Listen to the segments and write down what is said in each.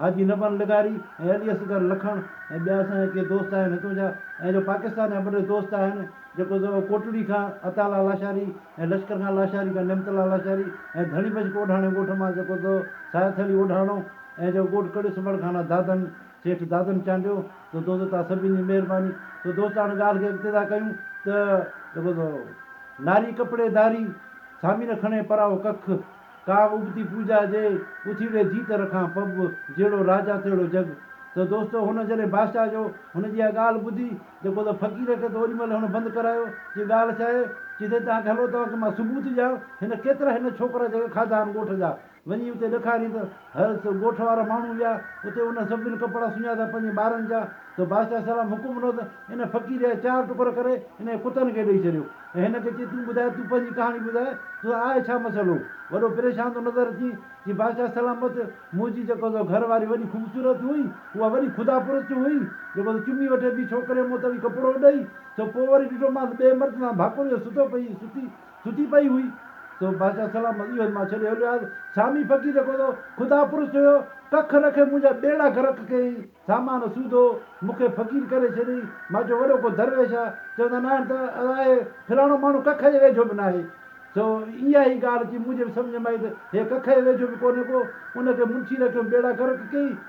حاجي نبن لغاري ۽ علي اصغر لکڻ ۽ ٻيا اسان جا ڪي دوست آهن هتون جا ۽ جو پاڪستان جا ٻه ٽي دوست آهن جيڪو زو ڪوٽڙي کان عطاالله لاشاري ۽ لشڪر خان لاشاري کان نعمت الله لاشاري ۽ ڌڻي بشڪ اوڍاڻي ڳوٺ مان جيڪو زو سايٿڙي اوڍاڻو ۽ جو ڳوٺ ڪڙيو سمڙ کان دادن سيٺ دادن چانڊيو زو دوست توهان سڀني جي مهرباني زو دوست هاڻ ڳالهه کي اڳتي ٿا ڪيون ته جيڪو زو ناري ڪپڙي ڌاري سامي نه کڻي پراهو ڪک. ڪا ابتي پوڄا جي اٿي ويهه جيت رکان پب جهڙو راجا تهڙو جڳ ته دوستو هن جڏهن بادشاهه جو هن جي اها ڳالهه ٻڌي جيڪو ته فقير کي ته اوري مهل هن بند ڪرايو چي ڳالهه ڇا آهي چي سائين توهان کي هلو توهان کي مان ثبوت ڏيان هن ڪيترا هن ڇوڪرا جيڪي کاڌا آهن ڳوٺ جا وڃي اتي ڏکارين ته هر سو ڳوٺ وارا ماڻهو ويا اتي انهن سڀني ڪپڙا سڃاتا پنهنجي ٻارن جا ته بادشاهه سلام حڪم ڏنو ته ان فقير جا چار ٽڪر ڪري انهن ڪتن کي ڏئي ڇڏيو ۽ هن کي چي تون ٻڌاء تون پنهنجي ڪهاڻي ٻڌاء ته آء ڇا مسئلو وڏو پريشان ٿو نظر اچين چي بادشاهه سلام مت منهنجي جيڪو سو گهر واري وڏي خوبصورت هئي اها وڏي خدا پرست هئي جيڪو سو چمي وٺي ٻي ڇوڪريء مون تڙي ڪپڙو ڏئي سو پوء وري ڏٺومانس ٻئي مرد سان ڀاڪريو ستو پئي ستي سٺي پئي هئي، سو بادشاهه سلام ايو هن مان ڇڏي هليو آيس. سامي فقير جيڪو سو خدا پرست هيو، ڪک رکي منهنجا ٻيڙا غرق ڪيئي، سامان سوڌو، مون کي فقير ڪري ڇڏيئي. مان چيو وڏو ڪو درويش آ، چوندا ناهن ته آهي، فلاڻو ماڻهو ڪک جي ويجهو به ناهي. سو اها ئي ڳالهه اچي منهنجي به سمجهه ۾ آئي ته هي ڪک جي ويجهو به ڪونهي ڪو، ان کي منشي رکيو ٻيڙا غرق ڪيئي،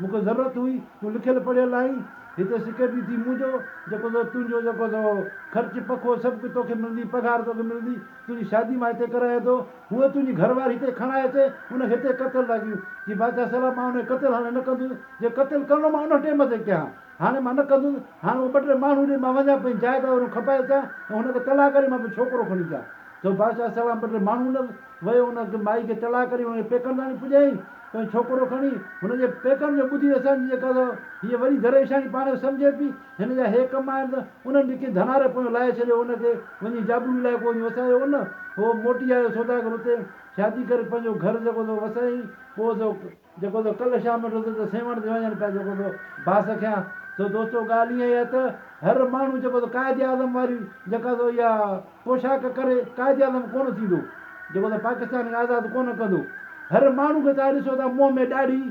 مون کي ضرورت هئي، تون لکيل پڙهيل آهين، هتي سيڪريٽري ٿي مون جو، جيڪو سو تنهنجو جيڪو سو خرچ پکو سڀ ڪجهه توکي ملندي، پگهار توکي ملندي، تنهنجي شادي مان هتي ڪرائي ٿو، هوء تنهنجي گهر واري هتي کڻائي اچي، ان کي هتي قتل لاء ڪيون، چي بادشاهه سلام مان ان کي قتل هاڻي نه ڪندس، جي قتل ڪرڻو مان ان ٽيم تي ڪيان. هاڻي مان نه ڪندس. هاڻي اهي ٻه ٽي ماڻهو ڏي مان وڃان پنهنجي جاء تان وري کپائي اچان ۽ هن کي طلاق ڏئي مان پنهنجو ڇوڪرو کڻي اچان. سو بادشاهه سلام ٻه ٽي ماڻهو ڏنس. ويو ان مائي کي طلاق ڏئي هن کي پيڪن تان آڻي پڄايائين. پنهنجو ڇوڪرو کڻي هن جي پيڪن جو ٻڌي اسان جي جيڪا سا هيء وڏي دريشاڻي پاڻ کي سمجهي پي. هن جا هي ڪم آهن ته انهن به ڪنهن ڌناري پويان لاهي ڇڏيو ان کي وڃي جابلو علائقو وڃي وسايو ان. هو موٽي آيو سوداگر اتي شادي ڪري پنهنجو گهر جيڪو سو وسايائين. پوء سو. جيڪو تو ڪلهه شام وٽ هوندو ته سيوهڻ تي وڃڻ پئي جيڪو تو ڀاس کيان سو دوستو ڳالهه ايئن آهي ته هر ماڻهو جيڪو تو قائد اعظم واري جيڪا تو اها پوشاڪ ڪري قائد اعظم ڪونه ٿيندو جيڪو تو پاڪستان کي آزاد ڪونه ڪندو هر ماڻهو کي توهان ڏسو ٿا منهن ۾ ڏاڙهي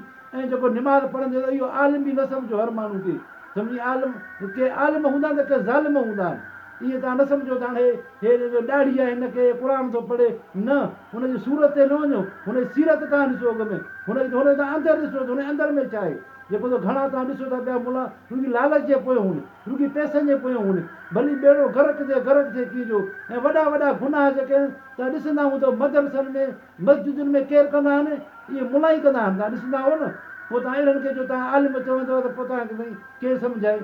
۽ جيڪو نماز پڙهندي ته اهو عالم به نه سمجهو هر ماڻهو کي سمجهي عالم ڪي عالم هوندا آهن ته ڪي ظالم هوندا آهن ايئن توهان نه سمجهو ته هاڻي هي جو ڏاڙهي آهي هن کي قرآن ٿو پڙهي نه هن جي صورت تي نه وڃو هن جي سيرت تان ڏسو اڳ ۾ هن جي هن جو تان اندر ڏسو ته هن جي اندر ۾ ڇا آهي جيڪو ته گهڻا توهان ڏسو ٿا پيا ملا رڳي لالچ جي پويان هون رڳي پئسن جي پويان هون ڀلي ٻيڙو غرق ٿئي غرق ٿئي ڪي جو ۽ وڏا وڏا گناهه جيڪي آهن توهان ڏسندا هون ته مدرسن ۾ مسجدن ۾ ڪير ڪندا آهن اهي ملا ئي ڪندا آهن توهان ڏسندا هو نه پوء توهان اهڙن کي جو توهان عالم چوندو ته پوء توهان کي سائين ڪير سمجهائي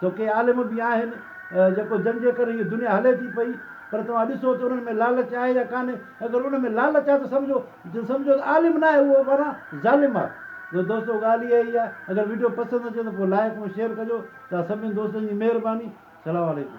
تو ڪي عالم به آهن جيڪو جن جي ڪري هيء دنيا هلي ٿي پئي پر توهان ڏسو ته انهن ۾ لالچ آهي يا ڪانهي اگر ان ۾ لالچ آهي ته سمجهو ته سمجهو ته عالم ناهي اهو معنيٰ ظالم آهي تو دوستو ڳالهه اها ئي آهي اگر وڊيو پسند اچي ته پوء لائڪ ۽ شيئر ڪجو توهان سڀني دوستن جي مهرباني سلام عليڪم.